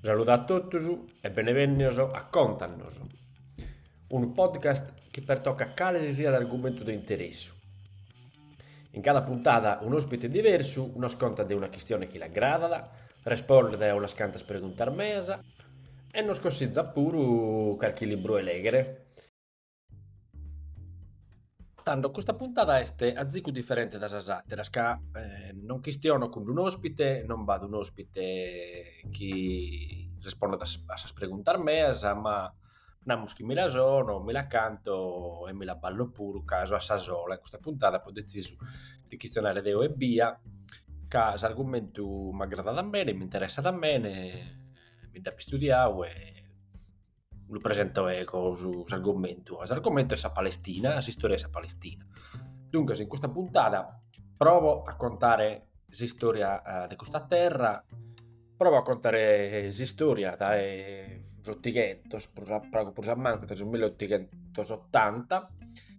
Saludu a totus e benevènnios a Contanos, unu podcast chi pertocat cale si siat argumentu de interessu. In cada puntada un'òspite diversu nos contat de una chistione chi l'agradat, respondet a unas cantas preguntas meas e nos consitzat puru carchi libru 'e lèghere. Tando, custa puntada est azicu diferente dae sas àteras, ca non chistiono cun un'òspite, non b'at un'òspite chi respondat a sas preguntas meas, ma namus chi mi la sono, mi la canto e mi la ballo puru, ca so a sa sola in custa puntada, apo detzisu de chistionare deo ebbia, ca s'argumentu m'agradat mene, m'interessat mene, mi nd'apo istudiadu e lu presento ego s'argomentu, s'argomentu est sa Palestina, s'istòria 'e sa Palestina. Duncas in custa puntada provo a contare s'istòria de custa terra, provo a contare s'istòria dae s'otighentos, prus pagu prus a mancu dae su millottighentosottanta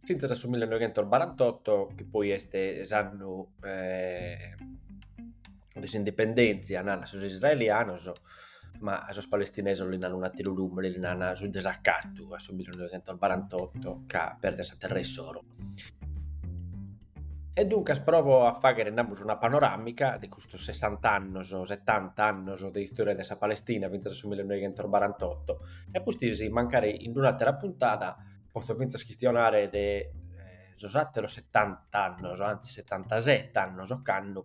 fintzas a su millinoighentobarantotto chi poi est s'annu de s'indipendèntzia, nana sos israelianos, ma sos palestinesos li nana un'àteru lùmene, li nana su desacatu a su millinoighentobarantotto ca perden sa terra issoro. E duncas provo a fàghere, namus, una panoràmica de custos sessant'annos, setant'annos de istòria de sa Palestina fintzas a su millinoighentobarantotto e a pustis mancari in un'àtera puntada potzo fintzas chistionare de sos àteros setant'annos, antzis setantaset'annos, cando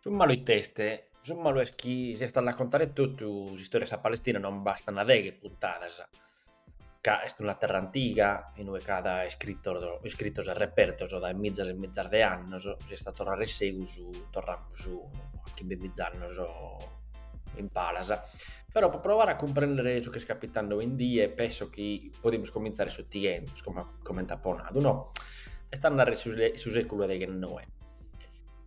Su malu ite est? Su malu est chi si est a la contare totu s'istòria de sa Palestina non bastana deghe puntadas, ca est una terra antiga in ue ch'at iscritos e repertos dae mizas e mizas de annos, si est a torrare in segus torramus a chimbe miza annos in palas, però pro proare a cumprendere su chi est capitende oindie penso chi podimus comintzare s'otighentos, comente apo nadu, no? Est a narrer su, su sèculu deghennoe.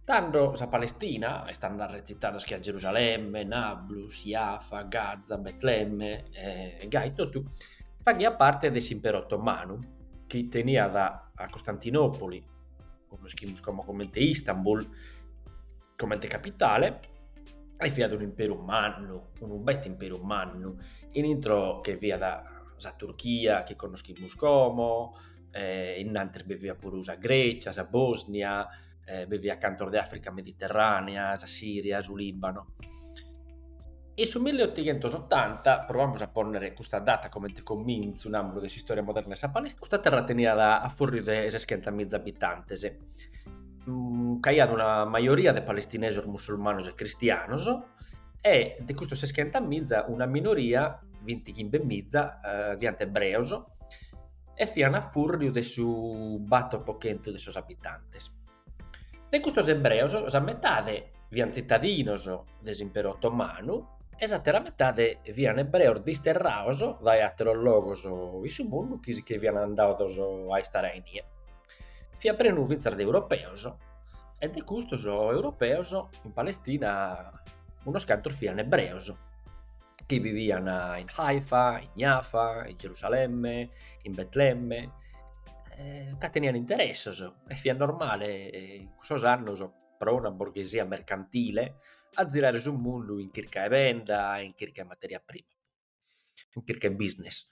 Tando sa Palestina, est a narrer tzitados che a Gerusalemme, Nablus, Jaffa, Gaza, Betlemme e gai totu, faghiat parte de s'Imperu Otomanu, chi teniat a Costantinopoli, connoschimus como comente Istanbul, Comente capitale e fiat unu imperu mannu, unu bete imperu mannu, in intro che fiat sa Turchia chi connoschimus como, innantes bi fiat puru sa Grècia, sa Bosnia, bi fiant cantos de Africa mediterranea, sa Siria, su Libano. In su milliotighentosottanta, provamus a pònnere custa data comente comintzu, namus, de s'istòria moderna 'e sa Palestina, custa terra teniat a fùrriu de seschentamìza abitantes Mm, c'aiat una majoria de palestinesos musulmanos e cristianos e de custos seschenta miza una minoria, vinti chimbe miza, eh, fiant ebreos e fiant a furriu de su bator pro chentu de sos abitantes. De custos ebreos sa metade fiant tzitadinos de s'imperu otomanu e s'àtera metade fiant ebreos disterrados dae àteros logos in su mundu chi fiant andados a istare a inie. Fiat prenu fintzas de europeos e de custos europeos in Palestina unos cantos fian ebreos chi vivian in Haifa, in Jafa, in Gerusalemme, in Betlemme, ca tenian interessos e fiat normale in cussos annos pro una borghesia mercantile a zirare su mundu in chirca 'e benda, in chirca 'e materia prima, in chirca 'e business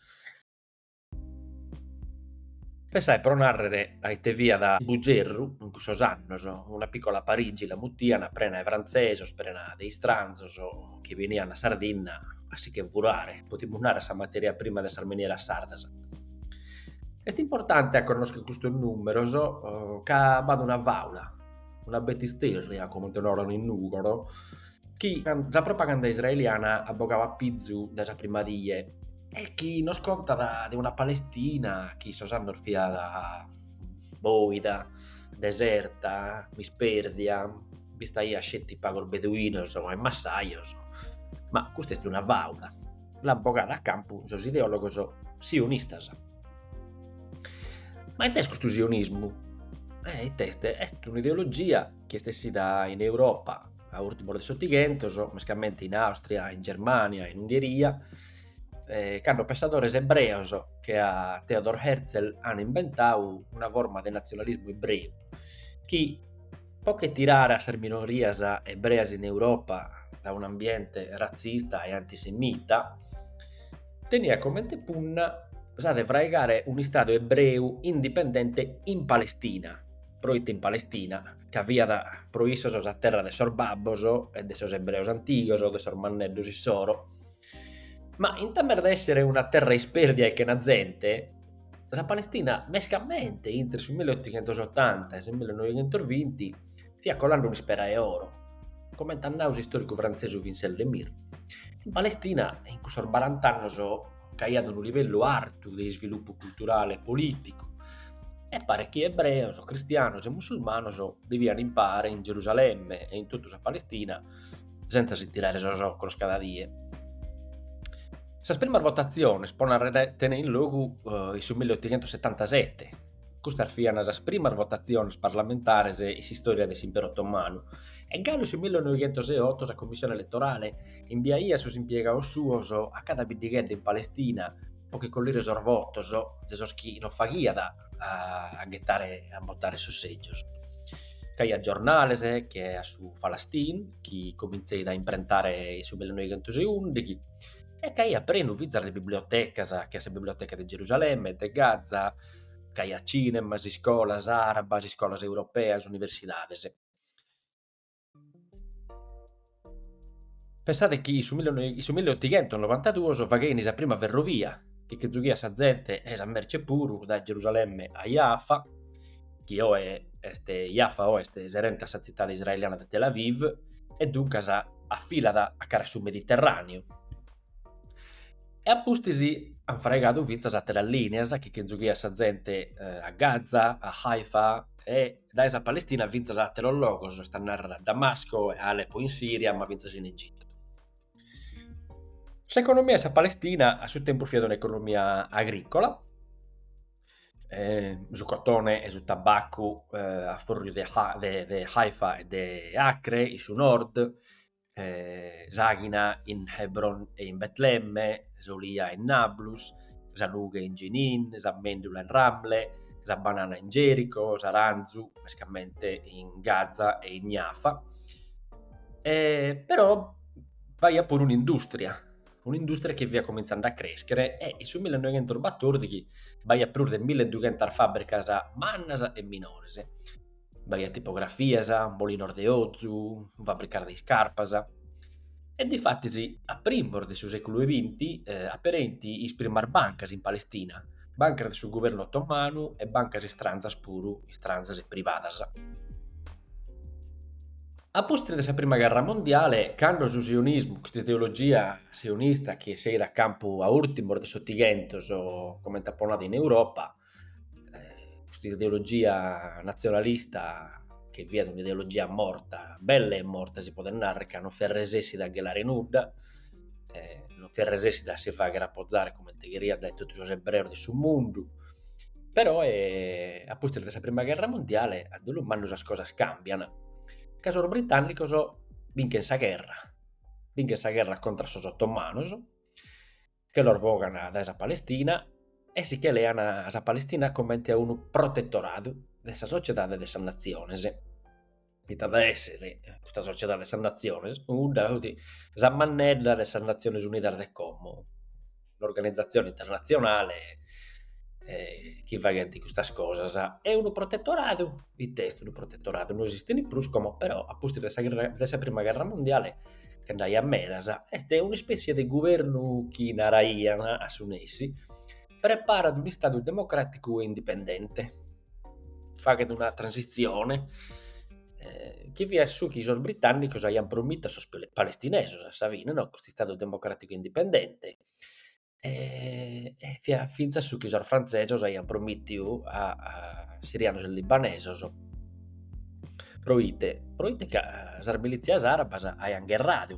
Pensae pro nàrrere a ite fiat Bugerru in cussos annos, una pìcola Parigi la mutian, prena 'e frantzesos, prena de istranzos chi benian a Sardinna a si che furare, podimus narrer, sa materia prima de sas minieras sardas. Est importante a connoschere custos nùmeros ca b'at una fàula, una betisterria, comente naran in Nùgoro chi sa propaganda israeliana at bogau a pizu dae sa prima die e chi nos contat de una Palestina in cussos annos fiat boida, deserta, mispèrdia, b'istaiant sceti pagos beduinos e massajos, ma custa est una fàula, l'ant bogada a campu sos ideòlogos sionistas. Ma ite est custu sionismu? Ite est? Est un'ideologia chi est essida in Europa a ùrtimos de s'Otighentos, mescamente in Àustria, in Germània, in Ungheria, eh, cando pensadores ebreos che a Theodor Herzl an inventau una forma de nazionalismu ebreu chi po che tirare a sas minorias ebreas in Europa da un ambiente razzista e antisemita, teniat comente punna sa de fraigare un istadu ebreu indipendente in Palestina, proite in Palestina ca fiat pro issos sa terra de sos babbos e de sos ebreos antigos, de sos manneddos issoro. Ma in tames de essere una terra isperdia e chena zente, sa Palestina, mescamente intre su 1880 e su 1920, fiat colende un'ispera 'e oro, comente at nadu s'istòricu frantzesu Vincent Lemire. In Palestina, in cussos barant'annos, c'aiat unu livellu artu de isvilupu culturale e polìticu, e paret chi ebreos, cristianos e musulmanos bivian in pare in Gerusalemme e in totu sa Palestina sentza si tirare sos ocros cada die. Sas primas votatziones pro narrer tenein logu in su milleotochentosetantasete Custas fiant sas primas votatziones parlamentares in s'istòria de s'Imperu Otomanu e galu su 1908 sa Commissione Eletorale imbiaiat sos impiegados suos a cada biddighedda in Palestina pro che collire sos votos de sos chi non faghiat a ghetare a botare sos sègios. C'aiat giornales che a su Falastin, chi comintzeit a imprentare in su 1911, e c'aiat prenu fintzas de bibliotecas che a sa Biblioteca de Gerusalemme, de Gaza, c'aiat cinemas, iscolas àrabas, iscolas europeas, universidades. Pensade chi in su in su milliotighentonobantaduos faghein sa prima ferrovia chi che zughiat sa zente e sa merce puru dae Gerusalemme a Jaffa, chi oe est Jaffa oe est serente a sa tzitade israeliana de Tel Aviv e duncas afilat a cara a su Mediterràneu. E a pustis ant fraigadu fintzas àteras lìnias chi che zughiat sa zente a Gaza, a Haifa e dae sa Palestina fintzas a àteros logos, est a nàrrere a Damasco e a Alepo in Sìria, ma fintzas in Egitu. S'economia 'e sa Palestina a su tempus fiat un'economia agrìcola, su cotone e su tabacu a fùrriu de Haifa e de Acre in su Nord eh, s'àghina in Hebron e in Betlemme, s'olia in Nablus, sa nughe in Jenin, sa mèndula in Ramle, sa banana in Gerico, s'aranzu mescamente in Gaza e in Jaffa. E, però b'aiat puru un'indùstria, un'indùstria chi fiat comintzende a crèschere e in su 1914 b'aiat prus de 1200 fàbricas mannas e minores. b'aiat tipografias, molinos de ozu, fabricas de iscarpas. E difatis a primos de su sèculu e binti apereint sas primas bancas in Palestina, bancas de su guvernu otomanu e bancas istranzas puru, istranzas e privadas. A pustis de sa prima gherra mondiale, cando su sionismu, custa ideologia sionista chi esseit a campu a ùrtimos de s'otighentos, comente apo nadu in Europa, eh, custa ideologia nazionalista che fiat un'ideologia morta, bella e morta si podet narrere, ca non fiat resessida a chelare nudda, eh, non fiat resessida a si faghere apozare comente cheriat dae totu sos ebreos de su mundu, però eh, a pustis de sa prima gherra mundiale a dolu mannu sas cosas cambian, ca sos britannicos binchen sa gherra, binchen sa gherra contra sos ottomanos, che los bogan dae sa Palestina e si che lean sa Palestina comente a unu protetoradu de sa Sociedade de sas Natziones, ite at a èssere custa Sociedade de sas Natziones, cudda chi fit sa mannedda de sas Natziones Unidas de como, un'organizatzione internatzionale chi faghent custas cosas, e unu protetoradu, ite est unu protetoradu, no esistint prus como però a pustis de sa de sa prima gherra mundiale bi nd'aiat medas, est un'ispètzia de guvernu chi naraian a su nessi, preparat un'istadu democràticu e indipendente, faghet una transitzione, chi fiat su chi sos britànnicos aian promitu a sos palestinesos a sa fine no, custu istadu democràticu e indipendente e fiat fintzas su chi sos frantzesos aian promìtiu a sirianos e libanesos proite proite ca sas milìtzias arabas aian gherradu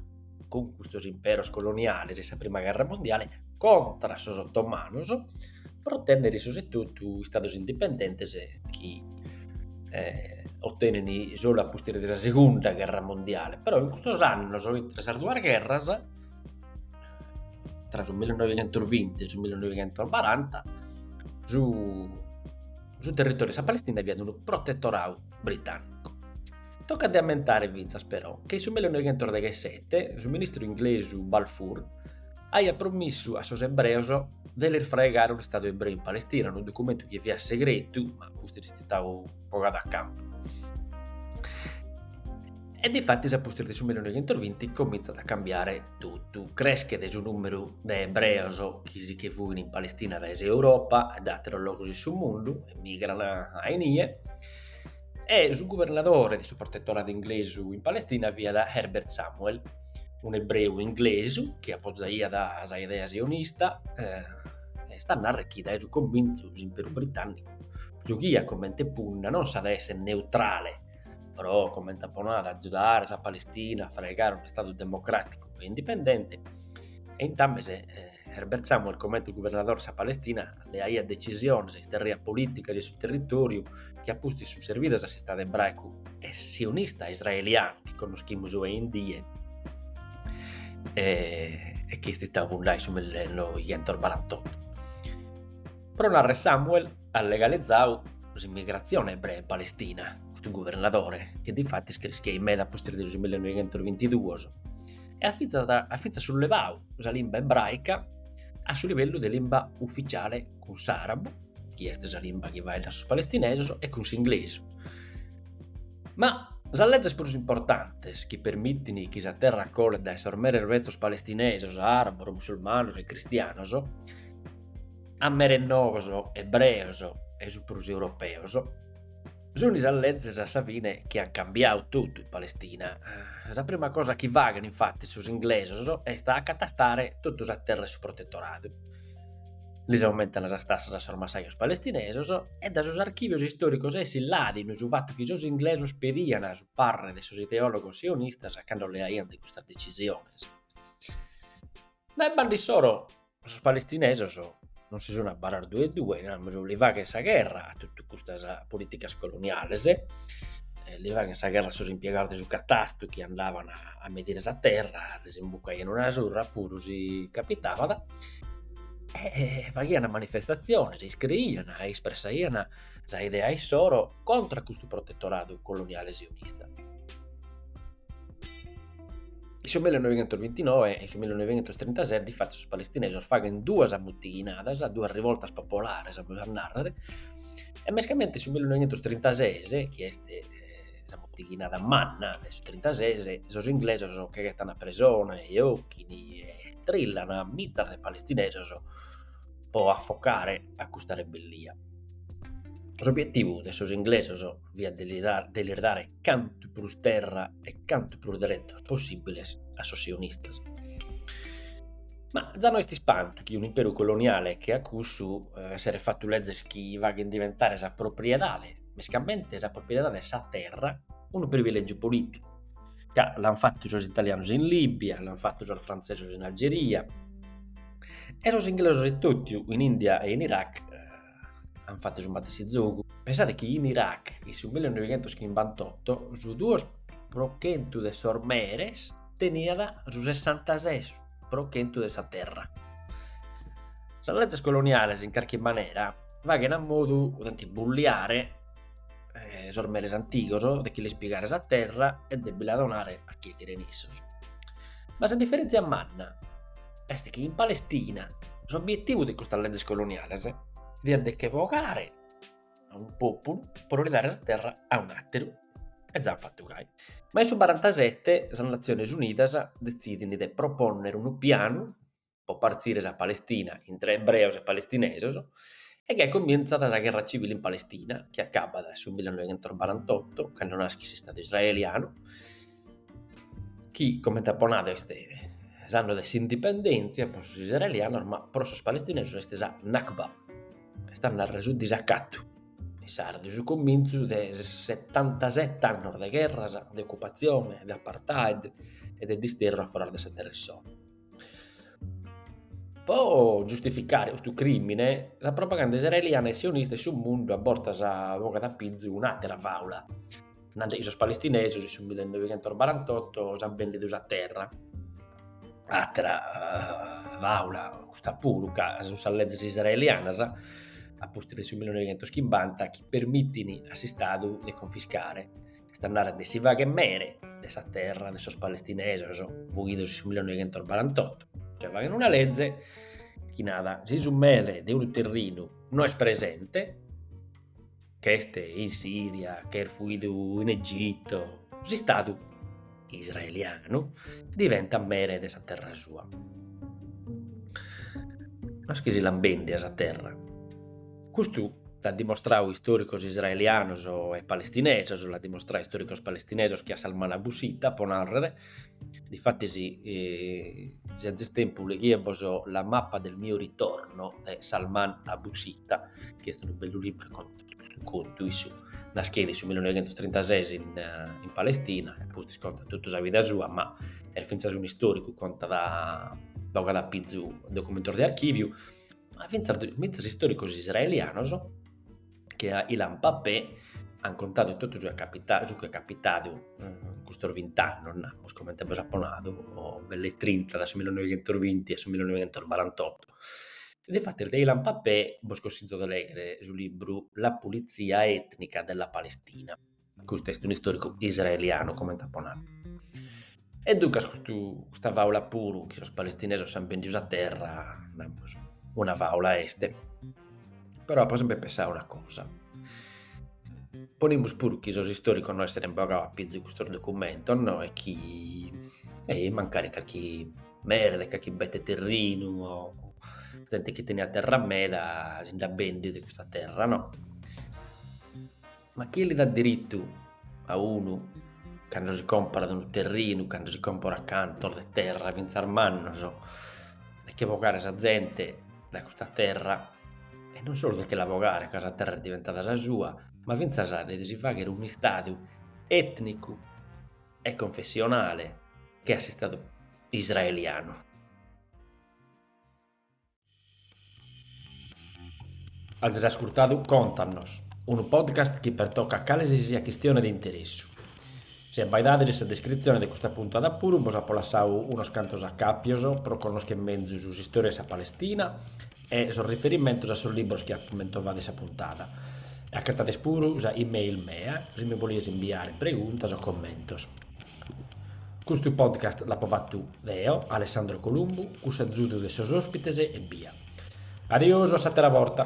cun custos imperos coloniales in sa prima gherra mundiale contra sos ottomanos pro otènnere issos etotu istados indipendentes chi otenen solu a pustis de sa segunda gherra mundiale però in custos annos intre sas duas gherras tra su 1920 e su 1940 su, su territoriu de sa Palestina fiat unu protetorau britanicu. Tocat de ammentare fintzas però che in su 1917 su ministru inglesu Balfour aiat promissu a sos ebreos de lis fraigare un'istadu ebreu in Palestina, unu documentu chi fiat segretu, ma custu est istadu bogadu a campu. E difatis a pustis de su 1920 comintzat a cambiare totu, creschet su nùmeru de ebreos chi si che fuint in Palestina dae s'Europa e dae àteros logos de su mundu, emigrant a inie, e su guvernadore de su protetoradu inglesu in Palestina fiat Herbert Samuel, un'ebreu inglesu chi apozaiat sa idea sionista, eh, est a narrer chi dae su comintzu s'imperu britànnicu giughiat comente punna, non sa de essere neutrale, però comente a bonu a agiudare sa Palestina a fraigare un'Istadu democràticu e indipendente, e intames eh, Herbert Samuel comente guvernadore de sa Palestina leaiat decisiones, isterriat polìticas in su territòriu chi a pustis sunt servidas a s'Istadu ebraicu e sionista israelianu chi connoschimus oe in die e, e chi est istadu fundadu in su 1948. Pro narrer Samuel at legalizadu s'immigrazione ebrea in Palestina, custu guvernadore, chi difatis creschieit meda a pustis de su mille noighentos e bintiduos, e at fintzas at fintzas sullevadu sa limba ebraica a su livellu de limba ufficiale cun s'arabu, chi est sa limba chi faeddan sos palestinesos, e cun s'inglesu. Ma sas leges prus importantes chi permitin chi sa terra colet dae sos meres betzos palestinesos, arabos, musulmanos e cristianos, a meres noos ebreos e su prus europeos, sunt sas lezes a sa fine chi an cambiadu totu in Palestina. Sa prima cosa chi faghen infattis sos inglesos est a acatastare totu sa terra 'e su protetoradu, lis aumentan sas tassas a sos massajos palestinesos e dae sos archìvios istòricos essit ladinu su fatu chi sos inglesos pedian su parrer de sos ideòlogos sionistas cando leaiant custas decisiones. Dae banda issoro Sos palestinesos non si sun abbarrados duedue, namus, li faghen sa gherra a totu custas politicas coloniales, li faghen sa gherra a sos impiegados de su catastru chi andaban a medire sa terra, lis imbucaian una surra puru si capitabat e faghian manifestatziones e iscriian e ispressaian sa idea issoro contra a custu protetoradu coloniale sionista In su 1929 e in su 1937, difatis, sos palestinesos faghent duas mutighinadas, duas rivoltas popolares, amus a narrer, e mescamente in su 1936, chi est sa muttighinada manna de su 36, sos inglesos che ghettan a presone e ochin e trillan mitzas de palestinesos pro affocare custa rebellia. S'obietivu de sos inglesos fiat de lis dare cantu prus terra e cantu prus deretos possibbiles a sos sionistas. Ma za no est ispantu chi un'imperu coloniale che a cussu eh, esseret fatu lezes chi faghen diventare sa propriedade, mescamente sa propriedade de sa terra, unu privilegiu politicu. Ca l'han fatu sos italianos in Libia, l'han fatu sos frantzesos in Algeria e sos inglesos e totu in India e in Iraq, ant fatu su matessi zogu. Pensade chi in Iraq, in su 1958, su duos pro chentu de sos meres teniat su sessantases pro chentu de sa terra. Sas lezes coloniales, in carchi manera, faghen a modu de nche bulliare sos meres antigos, de che lis pigare sa terra e de bi la donare a chie cheren issos. Ma sa diferèntzia manna est chi in Palestina s'obietivu de custas leges coloniales fiat de che bogare a unu populu pro li dare sa terra a un'ateru e ja an fattu gai. Ma in su barantasette sas Natziones Unidas detzidint de proponnere unu pianu pro partzire sa Palestina intre ebreos e palestinesos e gai comintzat sa gherra civile in Palestina chi acabat su millinoighentos barantotto cando naschit s'Istadu israelianu chi comente apo nadu est s'annu de s'indipendèntzia pro sos israelianos ma pro sos palestinesos est sa Nakba, est a narrer su disacatu, in sardu su comintzu de setantasette annos de gherras, de occupatzione, de apartheid e de disterru a foras de sa terra issoro. Pro giustificare custu crìmine, sa propaganda israeliana e sionista in su mundu a bortas bogat a pizu un'àtera fàula, nande chi sos palestinesos in su millinovighentosbarantotto s'ant bèndidu sa terra. Àtera fàula custa puru ca sunt sas lezes israelianas a pustis de su millinovighentoschimbanta chi permitint a s'istadu de confiscare est a narrer de si fagher mere de sa terra de sos palestinesos fuidos in su millenoighentos barantotto, cioè faghen una leze chi narat si su mere de unu terrinu no est presente, ch'est in Siria, ch'est fuidu in Egitto, s'istadu israelianu diventat mere de sa terra sua. No est chi si l'an bendia sa terra Custu l'at dimostradu istòricos israelianos e palestinèsos, l'at dimostradu istòricos palestinèsos che a Salman Abu Sitta, pro nàrrere. Difatis, si azis tempus leghide-bos La mappa del mio ritorno de Salman Abu Sitta, chi est unu bellu libru de custu contu, issu nascheit in su millinoighentostrintases in Palestina e pustis contat totu sa vida sua, ma est fintzas un'istòricu, contat, bogat a pizu documentos de archìviu ma fintzas istòricos israelianos che a Ilan Pappé ant contadu totu su chi est capitadu in custos bint'annos, namus, comente bos apo nadu, o belle e trinta, dae su millinoighentosbinti a su millinoighentosbarantotto. Difatis de Ilan Pappé bos consizo de lèghere su libru La pulizia etnica della Palestina Custu est un'istòricu israelianu, comente apo nadu. E duncas custu, custa fàula puru chi sos palestinesos s'ant bèndidu sa terra, namus, una fàula est. Però apo semper pensadu una cosa, ponimus puru chi sos istòricos no esserent bogadu a pizu custos documentos no e chi e mancari carchi mere de carchi bete terrinu o zente chi teniat terra meda si nd'at bèndiu de custa terra no Ma chie li dat diritu a unu cando si comporat unu terrinu, cando si comporat cantos de terra fintzas mannos de che bogare sa zente dae custa terra e non solu de che la bogare ca sa terra est diventada sa sua, ma fintzas de si faghere un'istadu etnicu e confessionale che a s'istadu israelianu. Azis ascurtadu Contanos, unu podcast chi pertocat cale si siat chistione de interessu. Si abbaidades in sa descritzione de custa puntada puru bos apo lassadu unos cantos acàpios pro connoschere menzus s'istòria de sa Palestina e sos riferimentos a sos libros chi apo mentovadu in sa puntada. Acatades puru sa e-mail mea si mi bolides imbiare preguntas o commentos. Custu podcast l'apo fatu deo, Alessandro Columbu, cun s'azudu de sos ospites ebbia. Adiosu a s'atera borta.